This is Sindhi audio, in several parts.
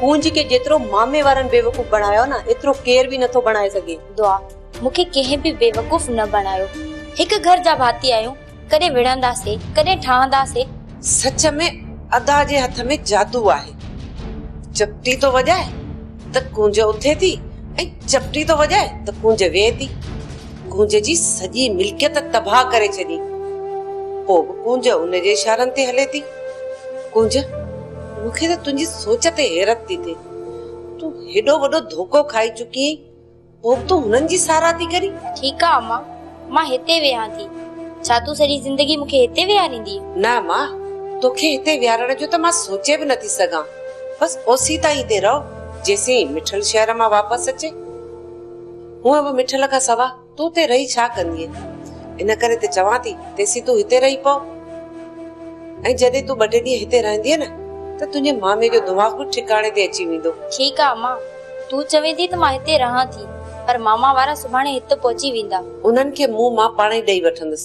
ڪونج کي جيترو مامي وارن بيوقوف بڻايو نه ايترو ڪير به نٿو بڻائي سگهي. دعا، مون کي ڪنهن به بيوقوف نه بڻايو. هڪ گهر جا ڀاتي آهيون، ڪڏهن وڙهنداسي، ڪڏهن ٺهنداسي. سچ ۾ ادا جي هٿ ۾ جادو آهي. چپٽي ٿو وڄائي ته ڪونج اٿي ٿي ۽ چپٽي ٿو وڄائي ته ڪونج ويهي ٿي. ڪونج جي سڄي ملڪيت تباهه ڪري ڇڏي. پوء به ڪونج ان جي اشارن تي هلي ٿي. ڪنج، مون کي ته تنهنجي سوچ تي حيرت ٿي ٿئي. تون هيڏو وڏو ڌوڪو کائي چڪي آهين، پوء به تون هنن جي ساراهه ٿي ڪرين؟ ٺيڪ آ امان، مان هتي ويهان ٿي. ڇا تون سڄي زندگي مون کي هتي ويهاريندينء؟ نه امان، توکي هتي ويهارڻ جو ته مان سوچي به نٿي سگهان. بس اوسين تائين هتي رهه، جيسين مٺل شهر مان واپس اچي. هونء به مٺل کان سوا تون اتي رهي ڇا ڪندينء؟ ان ڪري ته چوان ٿي، تيسين تون هتي رهي پو ۽ جڏهن تون ٻه ٽي ڏينهن هتي رهندينء نه ته تنهنجي مامي جو دماغ به ٺڪاڻي تي اچي ويندو. ٺيڪ آ امان، تون چوين ٿي ته مان هتي رهان ٿي، پر ماما وارا سڀاڻي هت پهچي ويندا. انهن کي مون مان پاڻهي ڏئي وٺندس.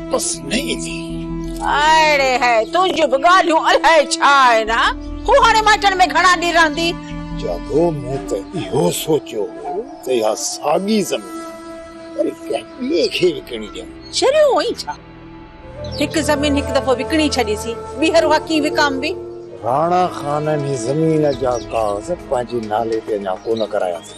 بس نئين ٿي. اڙي هي تنهنجون به ڳالهيون الائي ڇا آهن ها؟ هو هاڻي مائٽن ۾ گهڻا ڏينهن رهندي؟ جاڳو مون ته اهو سوچيو هو ته اها ساڳي زمين وري ڪنهن ٻئي کي وڪڻي ڏيان. شريون هئين ڇا؟ هڪ زمين هڪ دفعو وڪڻي ڇڏيسي، ٻيهر اها ڪيئن وڪامبي؟ راڻا خان انهي زمين جا ڪاغذ پنهنجي نالي تي اڃا ڪونه ڪرايا اٿئي.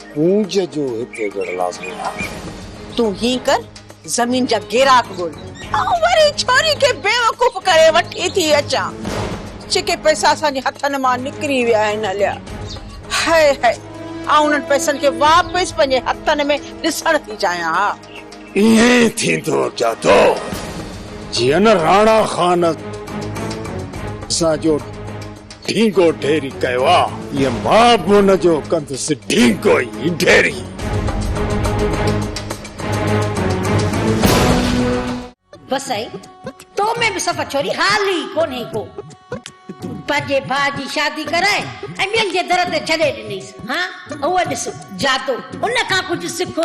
گونج جو هڪ ايڪڙ لازمي آهي. تون هين ڪر زمين جا گيراڪ ڳول آئون وري ڇوري کي بيوقوف ڪري وٺي ٿي اچان. جيڪي پئسا اسان جي هٿن مان نڪري ويا آهن هليا. هئ هئ آئون انهن پئسن کي واپس پنهنجي هٿن ۾ ڏسڻ ٿي چاهيان ها. ائين ٿيندو جادو جيئن راڻا خان اسان جو ڍينگو ڍيري ڪيو آ. اهي ماء بون جو ڪندس ڍينگو ئي ڍيري. بس سائين تو ۾ به سفر ڇوري حال ئي ڪونهي ڪو. پنهنجي ڀاء جي شادي ڪرائي ۽ ٻين جي در تي ڇڏي ڏنيس. ها اهو ڏس جادو، ان کان ڪجهه سک.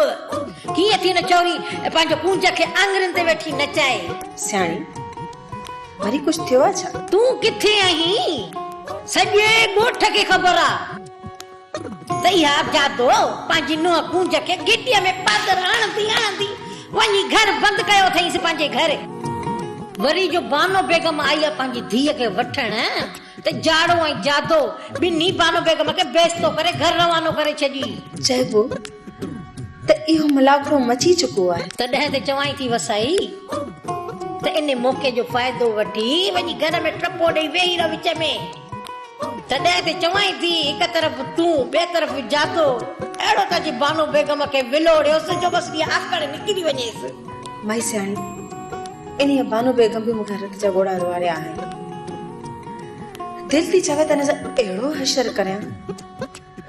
ڪيئن ٿي هن ڇوري پنهنجو ڪونج کي آڱرين تي ويٺي نچائي. سياڻي، وري ڪجهه ٿيو آهي ڇا؟ تون ڪٿي آهين؟ سڄي ڳوٺ کي خبر آ. زياد جادو پنهنجي نونهن ڪونج کي گهٽيء ۾ پاڌر هڻندي هڻندي وڃي گهر بند ڪيو اٿئينس پنهنجي گهر. وري جو بانو بيگم آئي آ پنهنجي ڌيء کي وٺڻ ته جاڙو ۽ جادو ٻنهي بانو بيگم کي بيستو ڪري گهر روانو ڪري ڇڏي. چئبو ته اهو ملاکڙو مچي چڪو آهي. تڏهن ته چوائين ٿي وسائي ته ان موقعي جو فائدو وٺي وڃي گهر ۾ ٽپو ڏئي ويهي رهه وچ ۾. تڏهن به چوائين ٿي هڪ طرف تون ٻئي طرف جادو. اهڙو ته جي بانو بيگم کي ولوڙيوس جو بس اها آڪڙ نڪري وڃيس. مائي سياڻي انهيء بانو بيگم به مون کان رت جا ڳوڙها روئاريا آهن. دل ٿي چوي ته ان سان اهڙو حشر ڪريان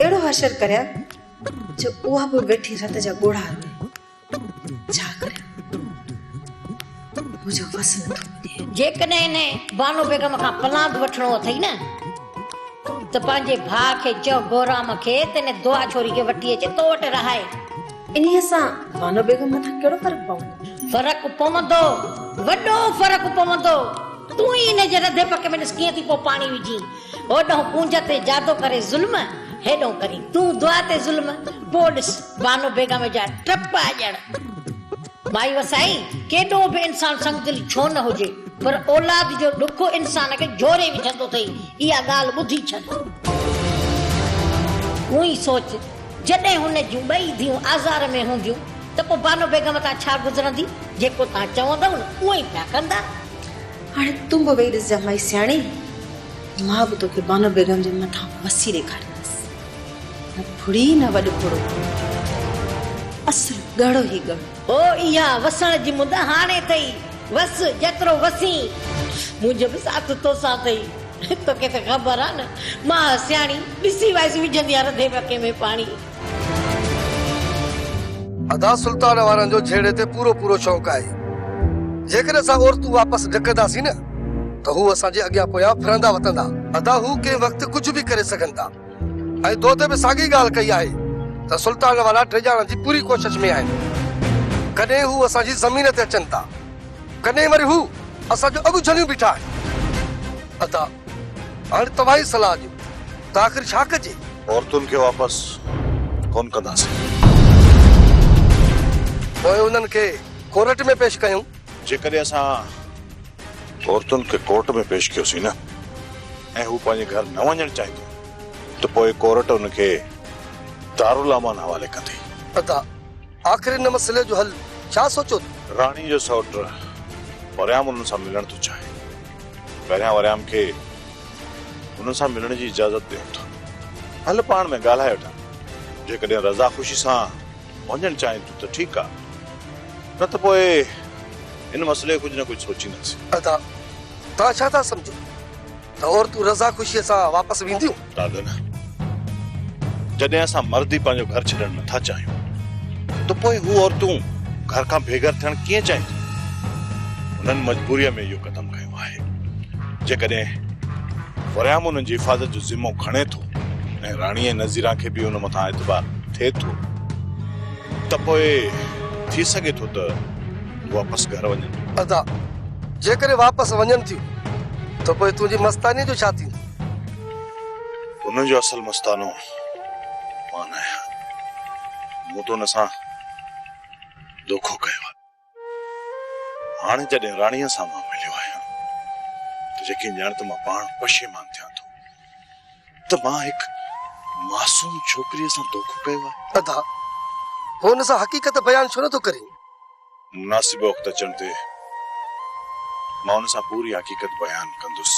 اهڙو حشر ڪريان جو اها به ويٺي رت جا ڳوڙها روئي. جيڪڏهن هن بانو بيگم کان پلاند وٺڻو اٿئي نه ته پنهنجي ڀاء کي چئو بهرام کي ته هن دعا ڇوري کي وٺي اچي تو وٽ رهائي. انهيء سان بانو بيگم مٿان ڪهڙو فرق پوندو؟ فرق پوندو، وڏو فرق پوندو. تون ئي هن جي رڌي پڪي ۾ ڏس ڪيئن ٿي پوء پاڻي وجهين. هوڏهن ڪونج تي جادو ڪري ظلم، هيڏهن ڪرين تون دعا تي ظلم. پوء ڏس بانو بيگم جا ٽپ اڄڻ. مائي وسائي، ڪيڏو به انسان سنگدل ڇو نه هجي، پر اولاد جو ڏک انسان کي جهوري وجهندو اٿئي، اها ڳالهه ٻڌي ڇڏ. اونهي سوچ، جڏهن هن جون ٻئي ڌيئون آزار ۾ هونديون ته پوء بانو بيگم تان ڇا گذرندي؟ جيڪو توهان چوندؤ نه، اهو ئي پيا ڪندا. هاڻي تون به ويهي ڏسجان مائي سياڻي، مان به توکي بانو بيگم جي مٿان وسي ڏيکاريندس. نه ڦڙي نه وڏ ڦڙو. اصل ڳڙهو هي ڳڙهو. هو اها وسڻ جي مد هاڻي ٿئي. وس جيترو وسين. منهنجو به ساٿ توسان ٿئي. توکي ته خبر آ نه ماء سياڻي ڏسي وائس وجهندي آ رڌي وڪي ۾ پاڻي. ادا سلطان وارن جو جهيڙي تي پورو پورو شوق آهي. جيڪڏهن اسان عورتون واپس ڏڪنداسين نه ته هو اسان جي اڳيان پويان ڦرندا وتندا. ادا هو ڪنهن وقت ڪجهه به ڪري سگهن ٿا ۽ دودي به ساڳي ڳالهه ڪئي آهي ته سلطان وارا ڊيڄارڻ جي پوري ڪوشش ۾ آهن. ڪڏهن هو اسان جي زمين تي اچن ٿا ڪڏهن وري هو اسان جو اڳ جهليون بيٺا آهن. ادا هاڻي توهان ئي صلاح ڏيو ته آخر ڇا ڪجي؟ عورتن کي واپس ڪونه ڪنداسين. پوء انهن کي ڪورٽ ۾ پيش ڪيون. جيڪڏهن اسان عورتن کي ڪورٽ ۾ پيش ڪيوسين نه ۽ هو پنهنجي گهر نه وڃڻ چاهينديون ته پوء ڪورٽ انهن کي دارالامان حوالي ڪندي. ادا، آخر ان مسئلي جو حل ڇا سوچيو اٿئي؟ راڻي جو سئوٽ وريام انهن سان ملڻ ٿو چاهي. پهريان وريام کي. هن سان ملڻ جي اجازت ڏي وٺان. هل پاڻ ۾ ڳالهائي وٺان. جيڪڏهن رضا خوشي سان وڃڻ چاهين ٿيون ته ٺيڪ آهي. نه ته پوء هن مسئلي کي ڪجهه نه ڪجهه سوچينداسين. ادا توهان ڇا ٿا سمجهو ته عورتون رضا خوشي سان واپس وينديون؟ دادا نه. جڏهن اسان مرد ئي پنهنجو گهر ڇڏڻ نه ٿا چاهيون ته پوء هو عورتون گهر کان بي گهر ٿيڻ ڪيئن چاهينديون؟ هنن مجبوريء ۾ اهو قدم کنيو. ڪرڻو آهي. جيڪڏهن فريام انهن جي حفاظت جو ذمو کڻي ٿو ۽ راڻيء نظيران کي به ان مٿان اعتبار ٿئي ٿو ته پوء ٿي سگهي ٿو ته هو واپس گهر وڃن. ادا، جيڪڏهن واپس وڃن ٿيون ته پوء تنهنجي مستانيء جو ڇا ٿيندو؟ تون جو اصل مستانو مان آهيان. مون تون سان دوکو ڪيو آهي. هاڻ جڏهن راڻيء سان مان مليو آهيان ته يقين ڄاڻ ته مان پاڻ پشيمان ٿيان ٿو ته مان هڪ معصوم ڇوڪريء سان دوکو ڪيو آهي. ادا، هو ان سان حقيقت بيان ڇو نه ٿو ڪرين؟ مناسب وقت اچڻ تي مان ان سان پوري حقيقت بيان ڪندس.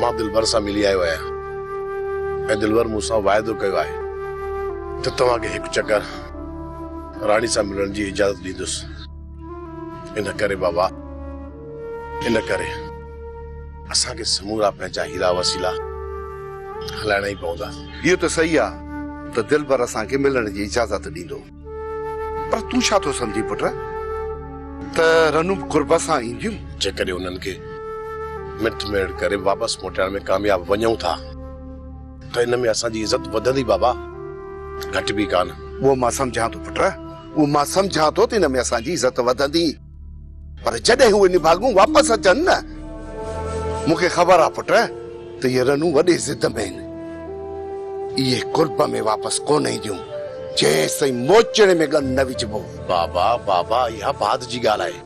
مان دلبر سان ملي آيو آهيان ۽ دلبر مون سان واعدو ڪيو آهي ته توهان کي هڪ چڪر راڻي سان ملڻ جي اجازت ڏيندس. ان ڪري بابا ان ڪري اسان کي سمورا پنهنجا هيرا وسيلا هلائڻا ئي پوندا. اهو ته صحيح آهي ته دلبر اسان کي ملڻ جي اجازت ڏيندو. پر تون ڇا ٿو سمجهين پٽ ته رنون به قرب سان اينديون؟ جيڪڏهن انهن کي مٽ ميڙ ڪري واپس موٽائڻ ۾ ڪامياب وڃون ٿا ته ان ۾ اسان جي عزت وڌندي بابا، گهٽبي ڪانه. اهو مان سمجهان ٿو پٽ، اهو مان سمجهان ٿو ته ان ۾ اسان جي عزت وڌندي. پر جڏهن اهي نڀاڳون واپس اچن نه، مون کي خبر آهي پٽ ته اهي رنون وڏي ضد ۾ آهن. اهي قرب ۾ واپس ڪونه اينديون، جيستائين موچڙي ۾ ڳن نه وجهبو. بابا، بابا، اها بعد جي ڳالهه آهي.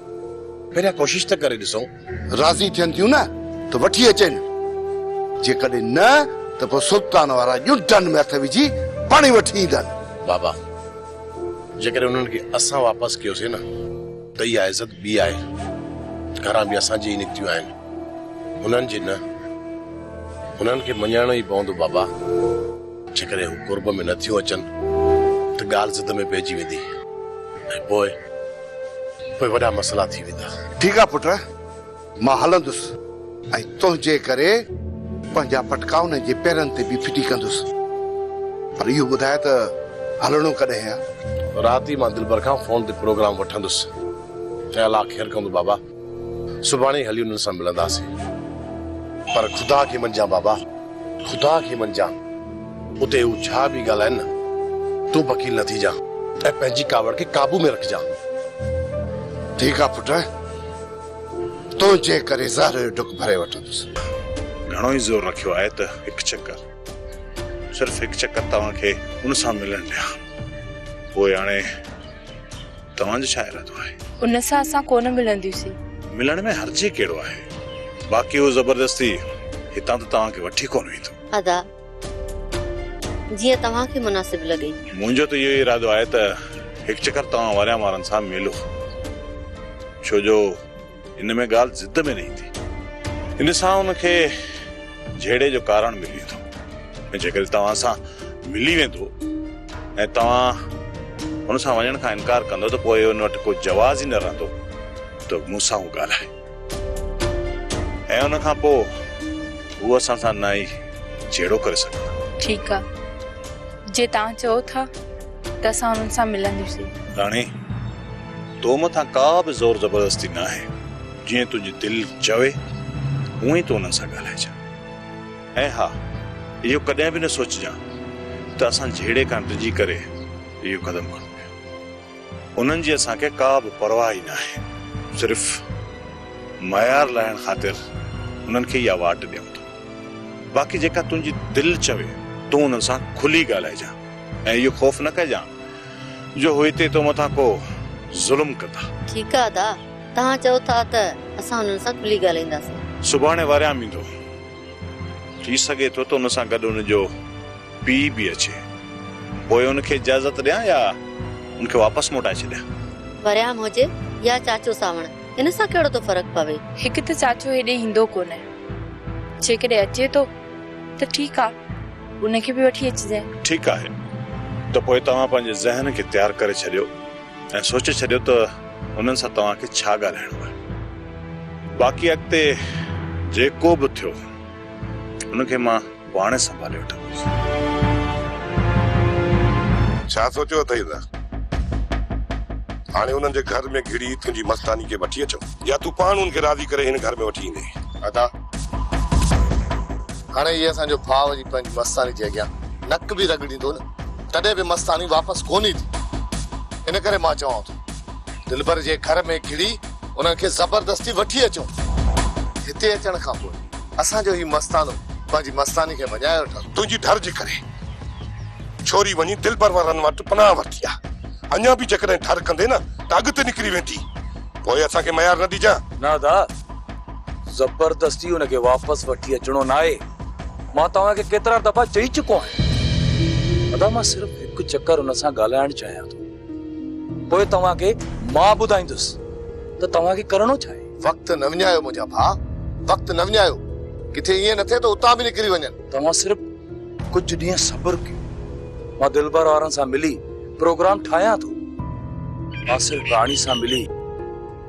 پهريان ڪوشش ته ڪري ڏسون. راضي ٿين ٿيون نه ته وٺي اچين، جيڪڏهن نه ته پوء سلطان وارا ڄنڊن ۾ هٿ وجهي پاڻ ئي وٺي ايندن. بابا! جيڪڏهن انهن کي اسان واپس ڪيوسين نه ته اها عزت ٻي آهي، گهران به اسان جي ئي نڪتيون آهن، هنن جي نه. هنن کي مڃرائڻو ئي پوندو بابا. جيڪڏهن هو قرب ۾ نه ٿيون اچن ته ڳالهه ضد ۾ پئجي ويندي ۽ پوء. پوء وڏا مسئلا ٿي ويندا. ٺيڪ آ پٽ، مان هلندس ۽ تنهنجي ڪري پنهنجا پٽڪا انهن جي پيرن تي به ڦٽي ڪندس. پر اهو ٻڌاء ته هلڻو ڪڏهن آ؟ رات ئي مان دلبر کان فون تي پروگرام وٺندس. چيل آ خير ڪندو بابا. سڀاڻي هلي انهن سان ملنداسين. پر خدا کي مڃجان بابا، خدا کي مڃجان. اتي هو ڇا به ڳالهائين نه، تون بڪيل نه ٿيجان ۽ پنهنجي ڪاوڙ کي قابو ۾ رکجان. ٺيڪ آ پٽ، تنهنجي ڪري زهر جو ڍڪ ڀري وٺندس. گهڻو ئي زور رکيو آهي ته هڪ چڪر، صرف هڪ چڪر توهان کي ان سان ملڻ ڏيان. پوء هاڻي. توهان جو ڇا ارادو آهي؟ ان سان اسان ڪو نه ملنديسين. ملڻ ۾ حرج ڪهڙو آهي؟ باقي هو زبردستي هتان ته توهان کي وٺي ڪونه ويندو. ادا، جيئن توهان کي مناسب لڳي. منهنجو ته اهو ئي ارادو آهي ته هڪ چڪر توهان وريان وارن سان ملو. ڇو جو. هن ۾ ڳالهه ضد ۾ نه ايندي. ان سان هن کي جهيڙي جو ڪارڻ ملي ويندو ۽ جيڪڏهن توهان سان ملي ويندو ۽ توهان هن سان وڃڻ کان انڪار ڪندو ته پوء هن وٽ ڪو جواز ئي نه رهندو ته مون سان هو ڳالهائي ۽ ان کان پوء هو اسان سان نه ئي جهيڙو ڪري سگهندا. ٺيڪ آ. جي توهان چئو ٿا ته اسان هنن سان ملنديسين. راڻي، تو مٿان ڪا به زور زبردستي ناهي، جيئن تنهنجي دل چوي، هونء ئي تون انهن سان ڳالهائجان. ۽ ها، اهو ڪڏهن به نه سوچجان ته اسان جهيڙي کان ڊڄي ڪري اهو قدم کڻون پيا. انهن جي اسان کي ڪا به پرواهه ئي ناهي، صرف معيار لاهڻ خاطر انهن کي اها واٽ ڏيون ٿا. باقي جيڪا تنهنجي دل چوي، تون انهن سان کلي ڳالهائجان ۽ اهو خوف نه ڪجان جو هو هتي تو مٿان ڪو ظلم ڪندا. ٺيڪ آ ادا، توهان چئو ٿا ته اسان انهن سان کلي ڳالهائينداسين. سڀاڻي واريام ايندو. ٿي سگهي ٿو ته ان سان گڏ ان جو پيء به اچي. پوء ان کي اجازت ڏيان يا ان کي واپس موٽائي ڇڏيان. واريام هجي يا چاچو سانوڻ، ان سان ڪهڙو ٿو فرق پوي. هڪ ته چاچو هيڏي ايندو ڪونه. جيڪڏهن اچي ٿو. ته ٺيڪ آ ان کي به وٺي اچجي. ٺيڪ آهي ته پوء توهان پنهنجي ذهن کي تيار ڪري ڇڏيو ۽ سوچي ڇڏيو ته انهن سان توهان کي ڇا ڳالهائڻو آهي. باقي اڳتي جيڪو به ٿيو ان کي مان پاڻهي سنڀالي وٺندس. ڇا سوچيو اٿئي ته هاڻي انهن جي گهر ۾ گهڙي تنهنجي مستاني کي وٺي اچون يا تون پاڻ انهن کي راضي ڪري هن گهر ۾ وٺي ايندين؟ ادا! هاڻي هي اسان جو ڀاء وڃي پنهنجي مستاني جي اڳيان نڪ به رڳڙيندو نه تڏهن به مستاني واپس ڪونه ايندي. ان ڪري مان چوان ٿو دلبر جي گهر ۾ گهڙي انهن کي زبردستي وٺي اچون. هتي اچڻ کان پوء اسان جو هي مستانو پنهنجي مستاني کي مڃائي وٺندو. تنهنجي ڍر جي ڪري ڇوري وڃي دلبر وارن وٽ پناهه ورتي آهي. اڃا به جيڪڏهن ڍر ڪندي نه ته اڳتي نڪري ويندي. پوء اسان کي ميار نه ڏجانء. نه ادا! زبردستي ان کي واپس وٺي اچڻو ناهي. مان توهان کي ڪيترا دفعا چئي چڪو آهيان. ادا مان صرف هڪ چڪر ان سان ڳالهائڻ چاهيان ٿو. پوء توهان کي مان ٻڌائيندس ته توهان کي ڪرڻو ڇا آهي. وقت نه وڃايو منهنجا ڀاء. وقت نه وڃايو. ڪٿي ائين نه ٿئي ته اتان به نڪري وڃن. توهان صرف ڪجهه ڏينهن صبر ڪيو. مان دلبر وارن سان ملي پروگرام ٺاهيان ٿو. مان صرف راڻي سان ملي.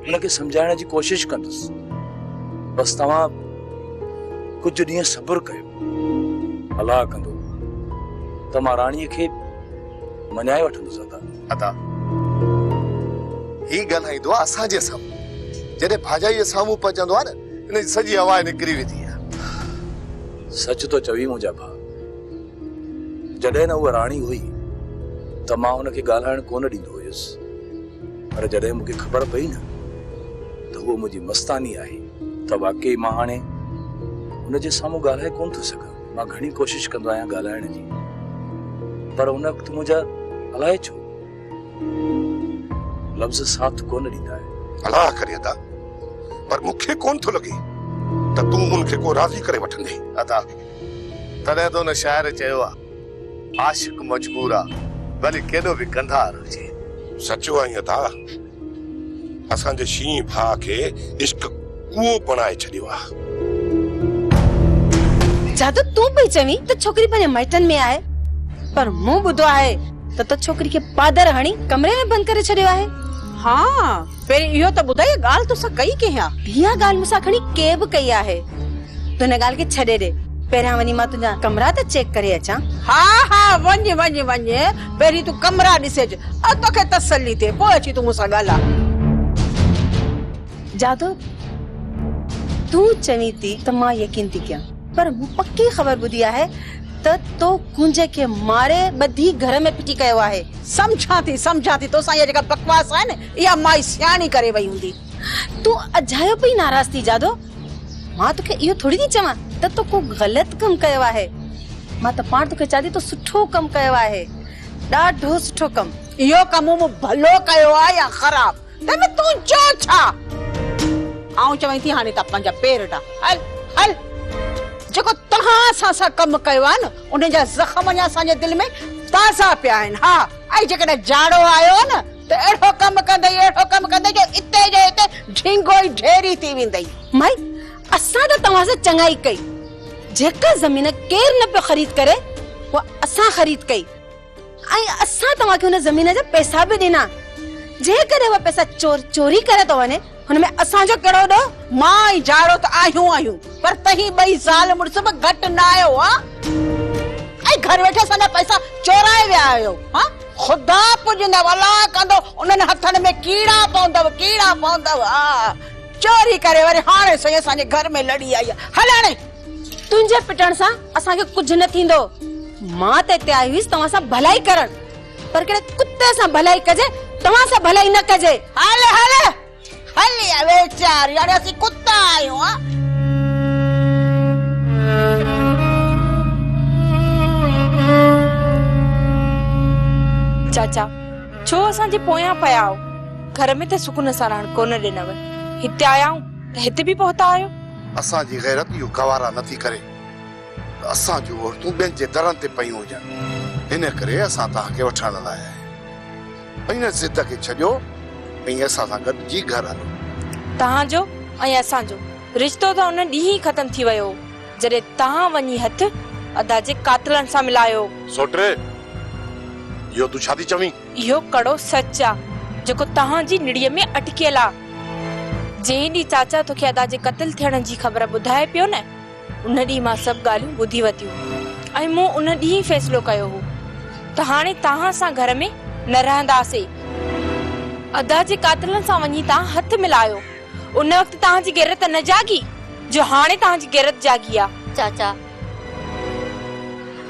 ان کي سمجهائڻ جي ڪوشش ڪندس بس توهان ڪجهه ڏينهن صبر ڪيو الله ڪندو ته مان راڻي کي مڃائي وٺندس ادا ادا هي ڳالهائيندو آ اسان جي سامهون جڏهن ڀاڄائي سامهون پهچندو آ نه ان جي سڄي هوا نڪري ويندي آ سچ تو چوي منهنجا ڀا جڏهن نه هو راڻي هئي ته مان ان کي ڳالهائڻ ڪونه ڏيندو هيس پر جڏهن مون کي خبر پئي نه ته هوء منهنجي مستاني آهي ته واقعي مان هاڻي هن جي سامهون ڳالهائي ڪونه ٿو سگهان. مان گهڻي ڪوشش ڪندو آهيان ڳالهائڻ جي پر ان وقت منهنجا الائي ڇو لفظ ساٿ ڪونه ڏيندا آهن. الاهه ڪري ادا پر مون کي ڪونه ٿو لڳي ته تون هن کي ڪو راضي ڪري وٺندين. ادا تڏهن ته هن شاعر چيو آهي. عاشق مجبور آ ڀلي ڪيڏو به ڪنڌار هجي. سچو آهين عطا اسان جي شينهن ڀاء کي عشق ڪوئو بڻائي ڇڏيو آ. جادو تون پئي چوين ته ڇوڪري پنهنجي مائٽن ۾ آهي پر مون ٻڌو آهي ته تو ڇوڪري کي پادر هڻي ڪمري ۾ بند ڪري ڇڏيو آهي. ها. پهرين اهو ته ٻڌاء اها ڳالهه تو سان ڪئي ڪنهن آ؟ اها ڳالهه مون سان کڻي ڪنهن به ڪئي آهي. تون هن ڳالهه کي ڇڏي ڏي. پهريان وڃي مان تنهنجا ڪمرا ته چيڪ ڪري اچان. ها ها وڃ وڃ وڃ پهرين تون ڪمرا ڏسي اچ ۽ توکي تسلي ٿئي پوء اچي تون مون سان ڳالهاء. جادو تون چوين ٿي ته مان يقين ٿي ڪيان پر مون پڪي خبر ٻڌي آهي ته تو ڪنهنجي کي ماري ٻڌي گهر ۾ ڦٽي ڪيو آهي. سمجهان ٿي سمجهان ٿي توسان اها جيڪا بڪواس آهي نه اها مائي سياڻي ڪري وئي هوندي. تون اجايو پئي ناراض ٿي جادو مان توکي اهو ٿوري ٿي چوان ته تو ڪو غلط ڪم ڪيو آهي مان ته پاڻ توکي چادي تو سٺو ڪم ڪيو آهي ڏاڍو سٺو ڪم. اهو ڪم مون ڀلو ڪيو آهي يا خراب؟ ته نه تون چئو ڇا؟ آئون چوين ٿي هاڻي تان پنهنجا پير ڊاهه. هل هل. جيڪو توهان اسان سان ڪم ڪيو آهي نه ان جا زخم اڃا اسان جي دل ۾ تازا پيا آهن. ها ۽ جيڪڏهن جاڙو آيو نه ته اهڙو ڪم ڪندئي اهڙو ڪم ڪندئي جو اتي جو اتي ڍينگو ئي ڍيري ٿي ويندئي. مائي اسان ته توهان سان چڱائي ڪئي. جيڪا زمين ڪير نه پيو خريد ڪري اها اسان خريد ڪئي. ۽ اسان توهان کي ان زمين جا پئسا به ڏنا. جيڪڏهن اها پئسا چور چوري ڪري ٿو وڃي، ان ۾ اسان جو ڪهڙو ڏوهه؟ مان ۽ جاڙو ته آهيون آهيون، پر توهين ٻئي زال مڙس به گهٽ نه آهيو ها؟ ۽ گهر ويٺي اسان جا پئسا چورائي ويا آهيو ها؟ خدا پوڄيندؤ، الا ڪندو، انهن هٿن ۾ ڪيڙا پوندؤ، ڪيڙا پوندؤ، ها! چوري ڪري وري هاڻي سائين اسان جي گهر ۾ لڙي آئي آهي. هل هاڻي تنهنجي پٽڻ سان اسان کي ڪجهه نه ٿيندو مان ته اتي آئي هئيس توهان سان ڀلائي ڪرڻ پر ڪهڙي ڪتي سان ڀلائي ڪجي توهان سان ڀلائي نه ڪجي هل هل هل يا ويچار يعني اسين ڪتا آهيون ها چاچا ڇو اسان جي پويان پيا آهو گهر ۾ ته سڪون سان رهڻ ڪونه ڏنو هتي آيا آهيون ته هتي به پهتا آهيو اسان جي غيرت اهو گوارا نه ٿي ڪري ته اسان جون عورتون ٻين جي درن تي پيون هجن، ان ڪري اسان توهان کي وٺڻ لاء آيا آهيون. ان ضد کي ڇڏيو ۽ اسان سان گڏجي گهر هلو. توهان جو ۽ اسان جو رشتو ته ان ڏينهن ئي ختم ٿي ويو هو، جڏهن توهان وڃي هٿ ادا جي قاتلن سان ملايو. سوٽي! اهو تون ڇا ٿي چوين؟ اهو ڪڙو سچ آ جيڪو تنهان جي نڙيء ۾ اٽڪيل آ. جنهن ڏينهن چاچا توکي ادا جي قتل ٿيڻ جي خبر ٻڌائي پيو نه، ان ڏينهن مان سڀ ڳالهيون ٻڌي ورتيون ۽ مون ان ڏينهن ئي فيصلو ڪيو هو ته هاڻي تنهان سان گهر ۾ نه رهنداسي. ادا جي قاتلن سان وڃي تنهان هٿ ملايو، ان وقت تنهان جي غيرت نه جاڳي جو هاڻي تنهان جي غيرت جاڳي آ. چاچا!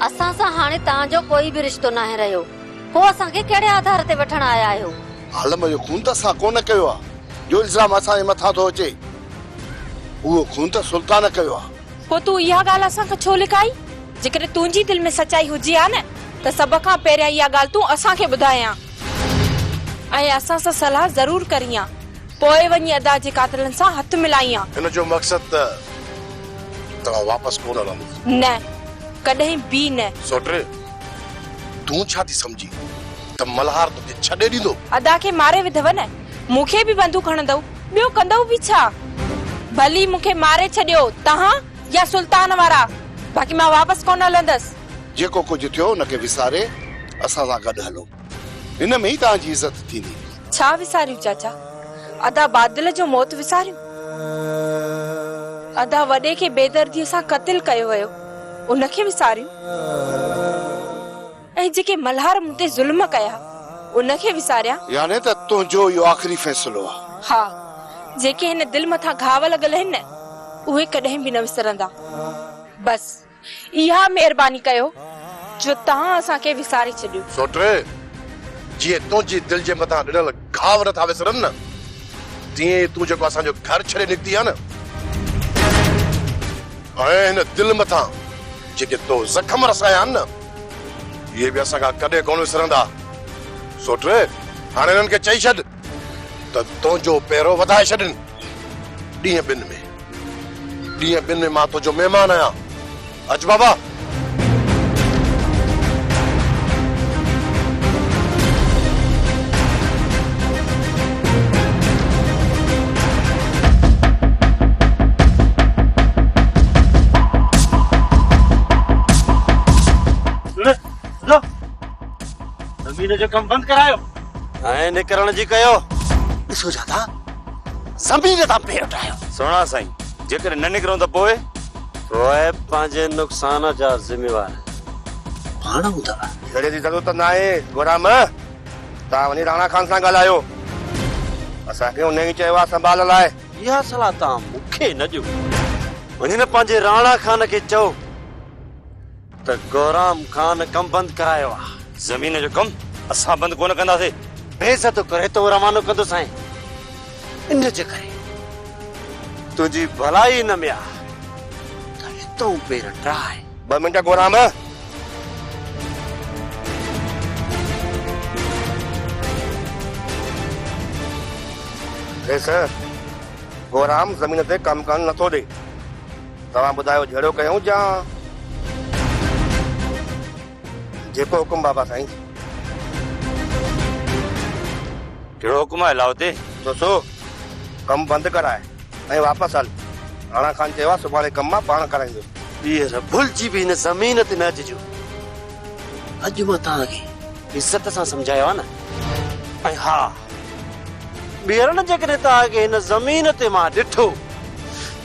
اسان سان هاڻي تنهان جو ڪوئي به رشتو ناهي رهيو. پوء اسان کي ڪهڙي آڌار تي وٺڻ آيا آهيو؟ عالم جو خون ته اسان ڪونه ڪيو آهي، جو الزام اسان جي مٿان ٿو اچي، اهو خون ته سلطان ڪيو آهي. پوء تون اها ڳالهه اسان کان ڇو لڪائي؟ جيڪڏهن تنهنجي دل ۾ سچائي هجي ها نه ته سڀ کان پهريان اها ڳالهه تون اسان کي ٻڌائي ها ۽ اسان سان صلاح ضرور ڪرين ها، پوء وڃي ادا جي قاتلن سان هٿ ملائين ها. هن جو مقصد ته توهان واپس ڪونه رهندو. نه، ڪڏهن به نه. سوٽري! تون ڇا ٿي سمجهين ته ملهار توکي ڇڏي ڏيندو؟ ادا کي ماري وڌو نه، مون کي به بندوق هڻندؤ، ٻيو ڪندؤ به ڇا؟ ڀلي مون کي ماري ڇڏيو توهان يا سلطان وارا، باقي مان واپس ڪونه هلندس. جيڪو ڪجهه ٿيو ان کي وساري اسان سان گڏ هلو، ان ۾ ئي توهان جي عزت ٿيندي. ڇا وساريون چاچا، ادا بادل جو موت وساريون؟ ادا وڏي کي بيدرديء سان قتل ڪيو ويو. ان کي وساريون ۽ جيڪي ملهار مون تي ظلم ڪيا ان کي وساريان. يعني ته تنهنجو اهو آخري فيصلو آهي. ها، جيڪي هن دل مٿان گهاء لڳل آهن نه اهي ڪڏهن به نه وسرندا. بس اها مهرباني ڪيو جو توهان اسان کي وساري ڇڏيو. سوٽري، جيئن تنهنجي دل جي مٿان رڙهيل گهاور ٿا وسرن نه تيئن ئي تون جيڪو اسان جو گهر ڇڏي نڪتي آهي نه ۽ هن دل مٿان جيڪي تو زخم رسايا آهن نه اهي به اسان کان ڪڏهن ڪونه وسرندا سوٽ هاڻي هنن کي چئي ڇڏ ته تنهنجو پيرو وڌائي ڇڏين ڏينهن ٻن ۾ ڏينهن ٻن ۾ مان تنهنجو مهمان آهيان اچ بابا. زمين جو ڪم بند ڪرايو ۽ نڪرڻ جي ڪيو ڏسو جاتا زمين تان پير اٽايو سهڻا سائين جيڪڏهن نه نڪرون ته پوء روئب پنهنجي نقصان جا ذميوار آهن. پاڻ ٻڌاء. جهيڙي جي ضرورت ته ناهي گهوڙا مئه. توهان وڃي راڻا خان سان ڳالهايو. اسان کي ان ئي چيو آهي سنڀال لاء. اها صلاح توهان مون کي نه ڏيو. وڃي نه پنهنجي راڻا خان کي چئو. ته گهرام خان ڪم بند ڪرايو آ. زمين جو ڪم اسان بند ڪونه ڪنداسي. بيعزتو ڪري تو روانو ڪندو سائين ان جي ڪري تنهنجي ڀلائي ان ۾ آ ته هتون پير ٽراء. ٻه منٽ گهرام. ڏس گهرام زمين تي ڪم ڪرڻ نه ٿو ڏي. توهان ٻڌايو جهڙو ڪيون جان. جيڪو حڪم بابا سائين. ڪهڙو حڪم آهي لاهوتي. سوسو ڪم بند ڪراء ۽ واپس هل. راڻا خان چيو آهي سڀاڻي ڪم مان پاڻ ڪرائيندس. ٻيهر ڀلجي به هن زمين تي نه اچجو. اڄ مان توهان کي عزت سان سمجهايو آهي نه. ۽ ها! ٻيرن جيڪڏهن توهان کي هن زمين تي مان ڏٺو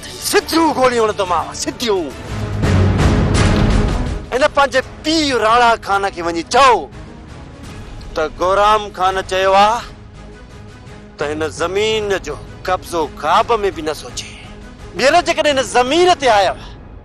ته سڌيون گوليون هڻندومانو سڌيون. هن پنهنجي پيء راڻا خان کي وڃي چئو ته گورام خان چيو آهي ته هن زمين جو قبضو خواب ۾ به نه سوچي. ٻير جيڪڏهن هن زمين تي آيو